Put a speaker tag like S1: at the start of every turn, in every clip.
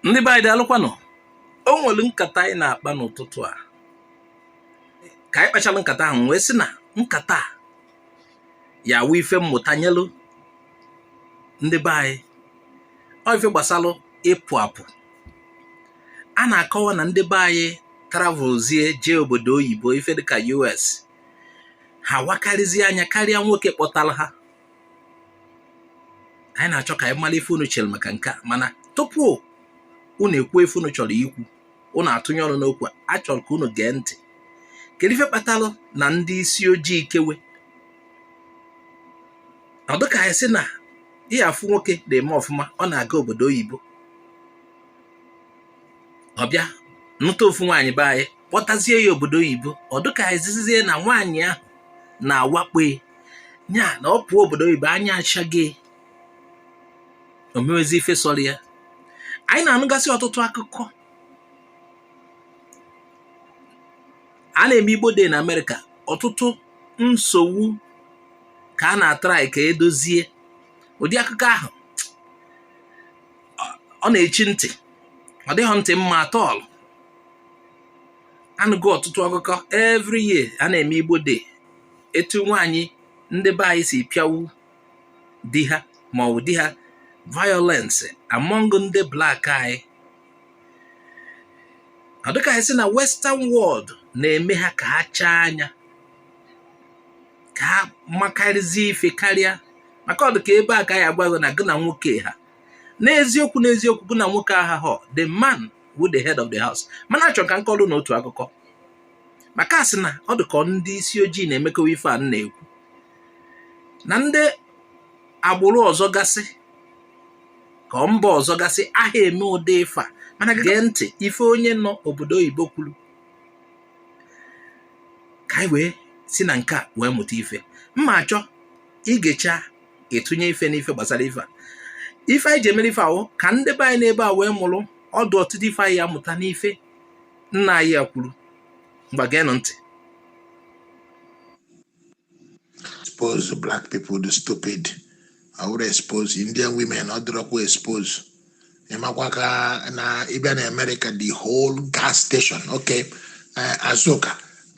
S1: ndị be anyị daalụkwanụ o nwere nkata anyị na-akpa n'ụtụtụ a ka anyị kpachara nkata ahụ wee sị na nkata a ya awụ ife mmụta nyelụ ndị be anyị ọ ife gbasalụ ịpụ apụ a na-akọwa na ndị be anyị travelzie jee obodo oyibo ife dịka US ha wakarịzie anya karịa nwoke kpọtara ha anyị na-achọ ka anyị mara ife unu chere maka nke a mana tupu unu ekwu ife unu chọrọ ikwu unu atụnye ọnụ n'okwu a chọrọ ka unu gee ntị kedu ife kpatalụ na ndị isi ojii ikewe ọ dịka a sị na ị ya afụ nwoke na-eme ọfụma ọ na-aga obodo oyibo ọ bịa nụta ofu nwaanyị be anyị kpọtazie ya obodo oyibo ọ dịka zizie na nwaanyị ahụ na-awakpo nya na ọ pụọ obodo oyibo anya achaghee o mewezi ife sọrọ ya anyị na-anụgasị ọtụtụ akụkọ a na-eme igbo day na amerịka ọtụtụ nsogbu ka a na-atrai ka e dozie ụdị akụkọ ahụ ọ na-echi ntị ọ dịghị ntị mma at all anụgo ọtụtụ akụkọ every year a na-eme igbo day etu nwaanyị ndị be anyị si pịawu di ha ma ọ wụ di ha violence among ndị black anyị ọ dịka a sị na western world na-eme ha ka ha chaa anya ka ha makarịzie ife karịa maka ọ dịka ebe a ka a ya agwa gị na gị na nwoke ha n'eziokwu n'eziokwu gị na nwoke ahahọ the man wụ the head of the house mana achọrọ ka m kọrọ unu otu akụkọ maka asị na ọ dị ka ọ ndị isi ojii na-emekowa ife a na-ekwu na ndị agbụrụ ọzọ gasị ka ọ mba ọzọ gasị aha eme ụdị ife a mana gee ntị ife onye nọ obodo oyibo kwuru ka anyị wee si na nke a wee mụta ife mma achọ i gecha ị tụnye ife n'ife gbasara ife a ife anyị ji emere ife a wụ ka ndị be anyị n'ebe a wee mụrụ ọdụ ọtụtụ ife anyị ya amụta n'ife nna anyị a kwuru ngwa geenụ
S2: ntị expose black people dị stupid I would expose Indian women ọ dịrọkwa expose ị makwa ka na ị bịa na America the whole gas station okay uh, Azuka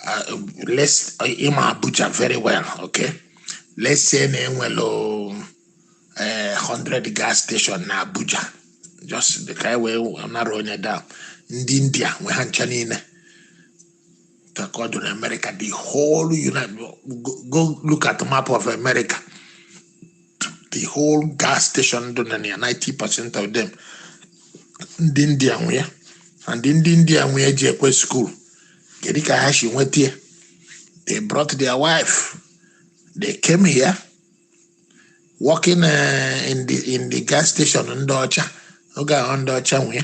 S2: uh, let's uh, ị ma Abuja very well okay let's say na e nwelu ee 100 gas station na abuja just dị ka anyị wee nara onye da ndị india nwe ha ncha niile ka ka ọ dị na america the whole united go, go look at the map of america the whole gas station dị na ya 90 percent of them ndị india nwe ya and ndị india nwe ya jekwe school kedu ka ha si nweta ya they brought their wife they came here working uh, in the in the gas station ndị ọcha oge ahụ ndị ọcha nwee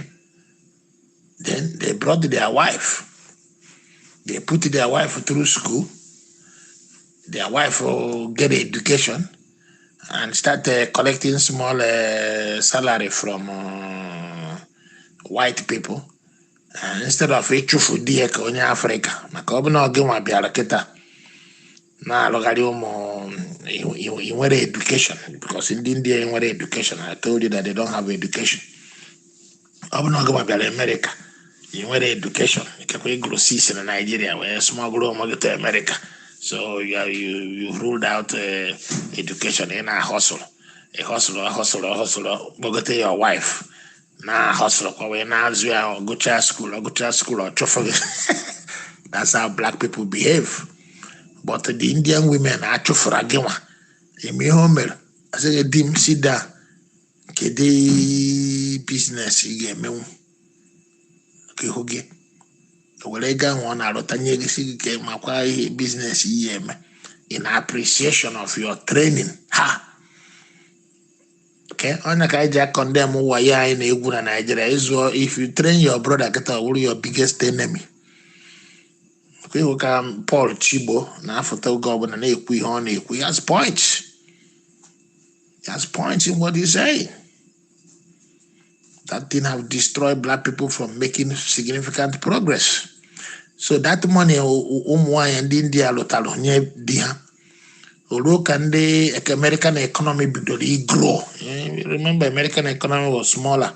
S2: then they brought their wife they put their wife through school their wife uh, get education and start uh, collecting small uh, salary from uh, white people Eh, instead of ịchụfu di ya ka onye afrịka maka ọ bụ na gị nwa bịara kịta na-alụgharị ụmụ i- i- i nwere education because ndị India nwere education I told you that they don't have education ọ bụ na gị nwa bịara amerịka i nwere education ikekwe ị gụrụ six na naijiria wee smuggle onwe gị to amerịka so you, are- you, you ruled out eh, education ị na-ahustle ị hustle hustle hustle kpọgote your wife na hustle kwa wee na-azụ ya ọ gụcha school ọ gụcha school ọ chụfụ gị that's how black people behave but the indian women achụfụra gị nwa eme ihe o mere a sị di m sit down kedu business ị ga-emenwu ka ịhụ gị were ego ahụ ọ na-arụta nye gị sị gị ka makwa ihe business ị ya-eme in appreciation of your training ha Okay ọ nya ka anyị ji acondemn wayo anyị na-egwu na Naịjirịa ị zụọ if you train your brother kịta ọ wụrụ your biggest enemy. Ọ kwa ị hụ ka Paul Chigbo na-afụta oge ọbụla na-ekwu ihe ọ na-ekwu he has points. He has points in what he's saying. That thing have destroyed black people from making significant progress. So that money ụmụ nwaanyị ndị India lụtara nye di ha o ruo ka ndị American economy bidoro ịgrow eh, remember American economy was smaller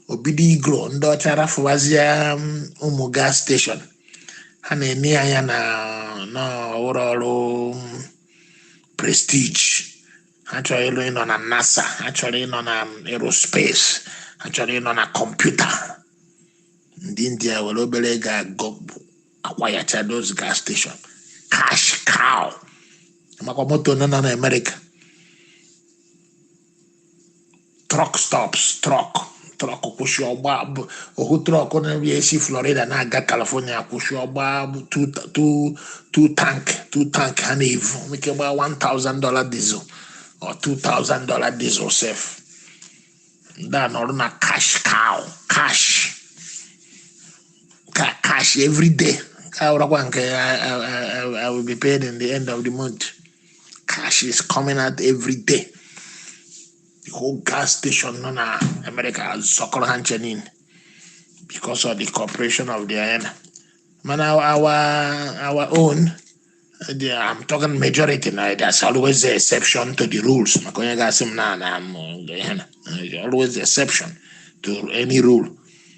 S2: o bido ịgrow ndị ọcha rafụwazie um, ụmụ gas station ha na-ene anya na n'ọrụ ọrụ um, prestige ha chọrọ ịrụ ịnọ na nasa ha chọrọ ịnọ na aerospace ha chọrọ ịnọ na kọmputa ndị india were obere ego ahụ acquire cha those gas station cash cow makwa moto nọ na amerịka truck stops truck truck kwụsị ọ gbaa ohu truck na-eri esi florida na-aga california kwụsị ọ gbaa two ta- two- two tank two tank ha na-evu nwee ike gbaa 1000 dollar diesel or 2000 dollar diesel sef ndị a nọrọ na cash cow cash ka cash every day ọ wụrakwa nke I, I, I, I will be paid in the end of the month cash is coming out every day the whole gas station nọ na America azụkọrọ ha ncha niile because of the cooperation of the ena mana our our own the, I'm talking majority now. There's always the exception to the rules. Maka onye ga-asị m na na m, eh, na, eh, always the exception to any rule.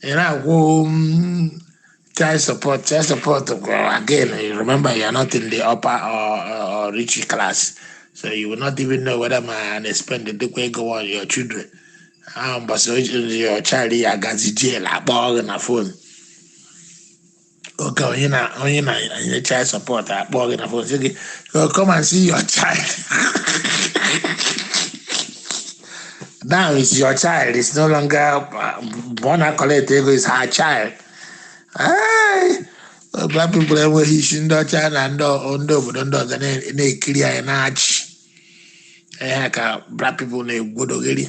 S2: ị na-akwụ mm, child support child support gwara again you remember you are not in the upper or, or, or rich class so you will not even know whether ma a na-espendikwa ego on your children ahụ mbọsị o ji- your child ya-agazi jail akpọọ gị na phone oge onye na onye na-enye child support akpọọ gị na phone sị gị "Oh, come and see your child now it's your child it's no longer uh, mgbe ọ na-acollect ego it's her child Ai, black people enweghị isi ndị China ndị ọ- ndị obodo ndị ọzọ na- na-ekiri anyị na-achị ihe a ka black people na-egwodogheri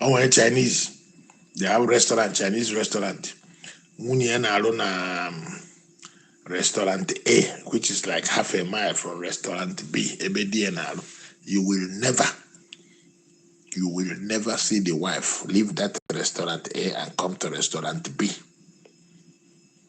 S2: o nwere Chinese they have restaurant Chinese restaurant nwunye ya na-arụ na um, restaurant A which is like half a mile from restaurant B ebe di ya na-arụ you will never you will never see the wife leave that restaurant A and come to restaurant B.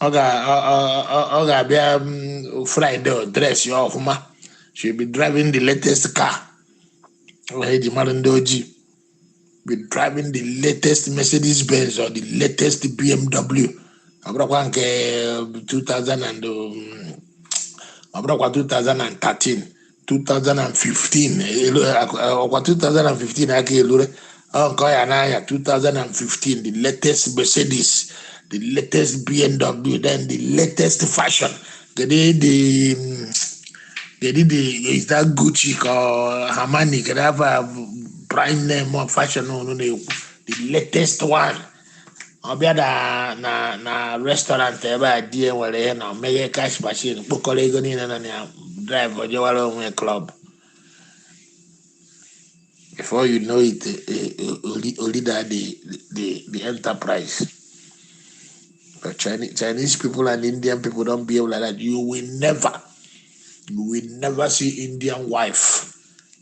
S2: ọ ga- ọ- ọ- ọ- ọ ga-abịa mm, Friday ọ dressia ọfụma she'll be driving the latest car ọ ya e ji mara ndị ojii be driving the latest Mercedes Benz or the latest BMW ọ bụrụkwa nke 2000 and um, ọ bụrụkwa 2013 2015 elu- akụ- ọkwa 2015 aka elure ọ nke ọ ya na-anya 2015 the latest Mercedes the latest BMW then the latest fashion kedu the mm, kedu the is that Gucci ka ọ Armani kedu ava brand name of fashion unu na-ekwu the latest one ọ bịa na na na restaurant ebe a di ya nwere ihe na meghee cash machine kpokọrọ ego niile nọ na ya drive jewara onwe club before you know it eh, eh, o ri- o rida the the the enterprise but chinese chinese people and indian people don't behave like that you will never you will never see indian wife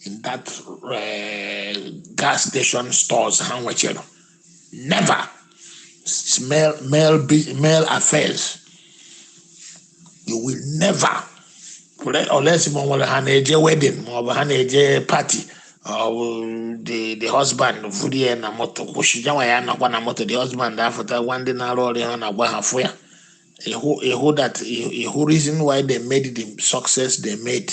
S2: in that uh, gas station stores ha nwechara never it's male male affairs you will never unless ma nwere ha na-eje wedding ma ọ bụ ha na-eje party ọ bụ the the husband vuru ya na moto kwụsị yanwa ya anọkwa na moto the husband afụta gwa ndị na-arụ ọrụ ha na-agwa ha fụ ya ịhụ ịhụ that ịhụ reason why they made the success they made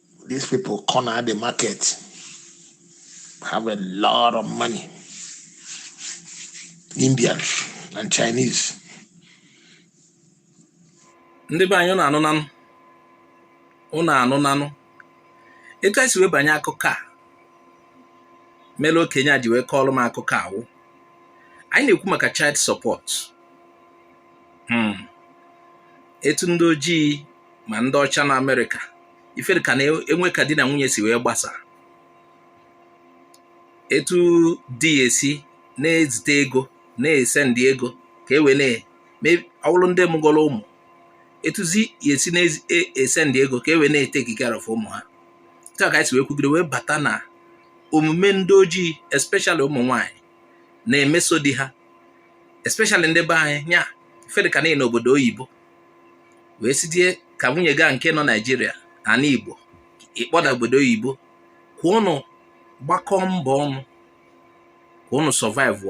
S2: These people corner the market, have a lot of money. Indians and Chinese.
S1: ndị be anyị ụnụ anụnanụ ụnụ anụnanụ etu anyị si wee banye akụkọ a mere okenye a ji wee kọọrọ m akụkọ a wụ anyị na-ekwu maka child support hmm. etu ndị ojii ma ndị ọcha na amerịka ife dịka na-enwe ka di na nwunye si wee gbasa etu di ya si na-ezite ego na-esend ego ka e wee na ọ wụrụ ndị mụgoro ụmụ etuzi ya si na-esend ego ka e wee na-etake care of ụmụ ha etu a ka anyị si wee kwugide wee bata na omume ndị ojii especially ụmụ nwaanyị na-emeso di ha especially ndị be anyị nya ife dịka n'obodo oyibo wee sị dịka nwunye gị a nke nọ naijiria ana igbo ị kpọta obodo oyibo ka ụnụ gbakọọ mbọ ọnụ ka ụnụ survive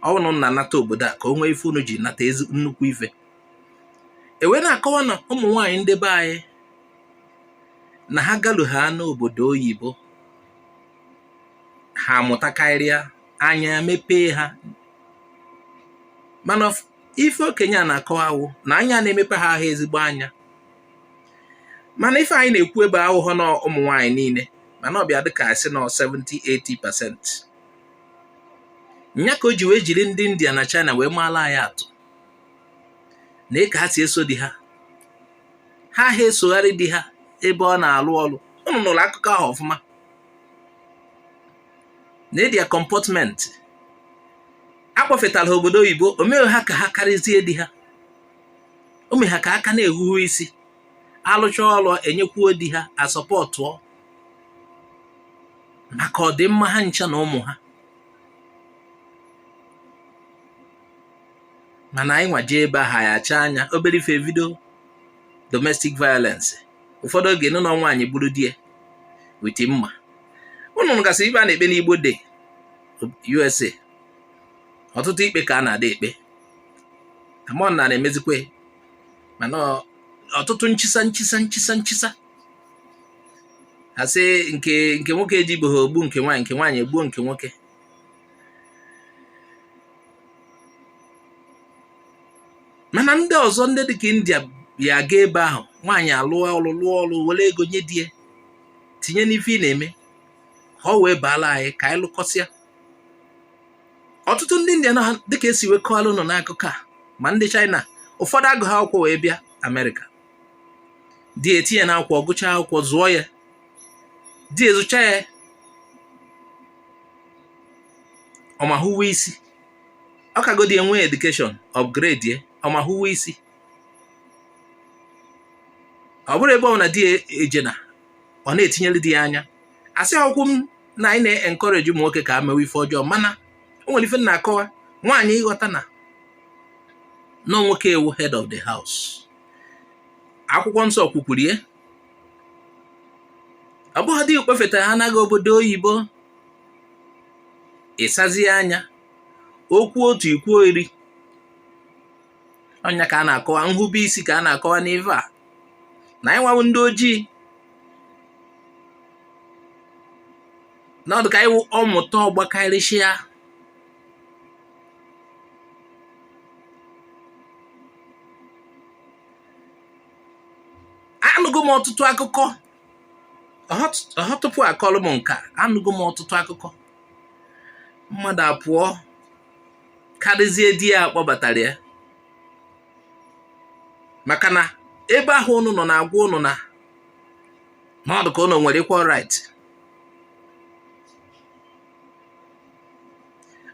S1: ọnụ na-anata obodo a ka o nwee ife unu ji nata ezi nnukwu ife e wee na-akọwa na ụmụ nwaanyị ndị be anyị na ha galu ha n'obodo oyibo ha amụtakarịa anya mepee ha mana ife okenye a na-akọwa wụ na anya na-emepe ha ahọ ezigbo anya mana ife anyị na-ekwu ebe a awụhọ na ụmụ nwaanyị niile mana ọ bịa dịka a sị na 70-80 pasent nya ka o ji wee jiri ndị India na China wee maala anyị atụ na eke ha si eso di ha ha ha esogharị di ha ebe ọ na-alụ ọlụ ụnụ nụrụ akụkọ ahụ ọfụma na their comportment a kpọfetara obodo oyibo o meghị ha ka ha karịzie di ha o meghị ha ka ha ka na-ehuhu isi alụcha ọrụ enyekwuo di ha support o maka ọdịmma ha ncha na ụmụ ha mana anyị nwa je ebe ahụ ya acha anya obere ife e vido domestic violence ụfọdụ oge nụ na nwaanyị gburu di ya with mma ụnụ gasị ikpe a na-ekpe n'Igbo dị USA ọtụtụ ikpe ka a na-ada ekpe ụmụnna na-emezikwa mana ọtụtụ nchisa nchisa nchisa nchisa a sị nke nke nwoke ejibeghị ogbu nke nwaanyị nke nwaanyị egbuo nke nwoke mana ndị ọzọ ndị dịka india ya aga ebe ahụ nwaanyị alụọ ọlụ lụọ ọlụ were ego nye di ya tinye n'ife ị na-eme ka o wee baala anyị ka anyị lụkọsịa ọtụtụ ndị indian dịka e si wee kọọla ụnụ n'akụkọ a ma ndị china ụfọdụ agụghị akwụkwọ wee bịa amerịka di ya etinye na akwụkwọ ọ gụcha akwụkwọ zụọ ya di ya zụcha ya ọ ma huwe isi ọ kagodi ye nwee education upgrade ye ọ ma huwe isi ọ bụrụ ebe ọ wụna di e jena ọ na-etinyere di ya anya asịghịkwa m na anyị na-encourage ụmụ nwoke ka ha mewe ife ọjọọ mana o nwere ife m na-akọwa nwaanyị ịghọta na na nwoke wụ head of the house akwụkwọ nsọ kwukwuru ya ọ bụghị di kpọfetahana gị obodo oyibo ị sazie anya o kwuo otu i kwuo iri ọ ya ka a na-akọwa nhube isi ka a na-akọwa n'ive a na anyị nwa wụ ndị ojii na ọ dị ka anyị wụ ọmụta ọ gbakarịsịa anụgo m ọtụtụ akụkọ ha tupu akọrọ m nke a anụgo m ọtụtụ akụkọ mmadụ apụọ karịzie di ya kpọbatara ya maka na ebe ahụ ụnụ nọ na-agwa ụnụ na na ọ dị ka ụnụ nwere equal right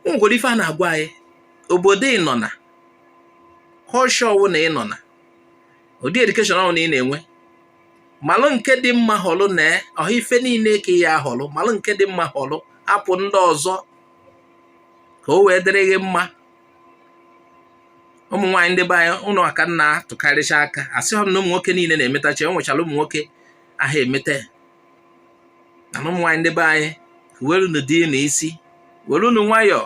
S1: o nwere ife a na-agwa anyị obodo ị nọ na culture ọwụna ị nọ na ụdị education ọwụna ị na-enwe malụ nke dị mma họlụ na ọ bụghị ife niile ka ị ya-ahọlụ malụ nke dị mma họlụ hapụ ndị ọzọ ka o wee dịrị gị mma ụmụ nwaanyị ndị be anyị ụnụ aka na-atụkarịcha aka asịghị m na ụmụ nwoke niile na-emetacha e nwechara ụmụ nwoke aha emeta mana ụmụ nwaanyị ndị be anyị huwerunu di ụnụ isi werunu nwayọọ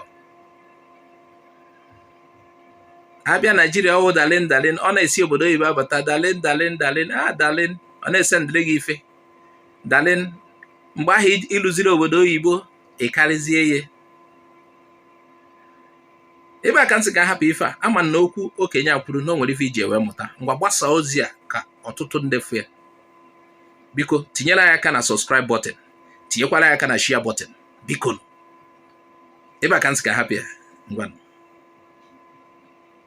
S1: a bịa naijiria ọ wụ darling darling ọ na-esi obodo oyibo abata darling darling darling a ah, darling ọ na-esendịrị gị ife darling mgbe ahụ i luziri obodo oyibo ị karịzie ya ebe a ka m sị ka a hapụ ife a ama m na okwu okenye a kwuru na o nwere ife i ji wee mụta ngwa gbasaa ozi a ka ọtụtụ ndị fụ ya biko tinyere anyị aka na subscribe button tinyekwara anyị aka na share button biko ebe a ka m sị ka a hapụ ya ngwanụ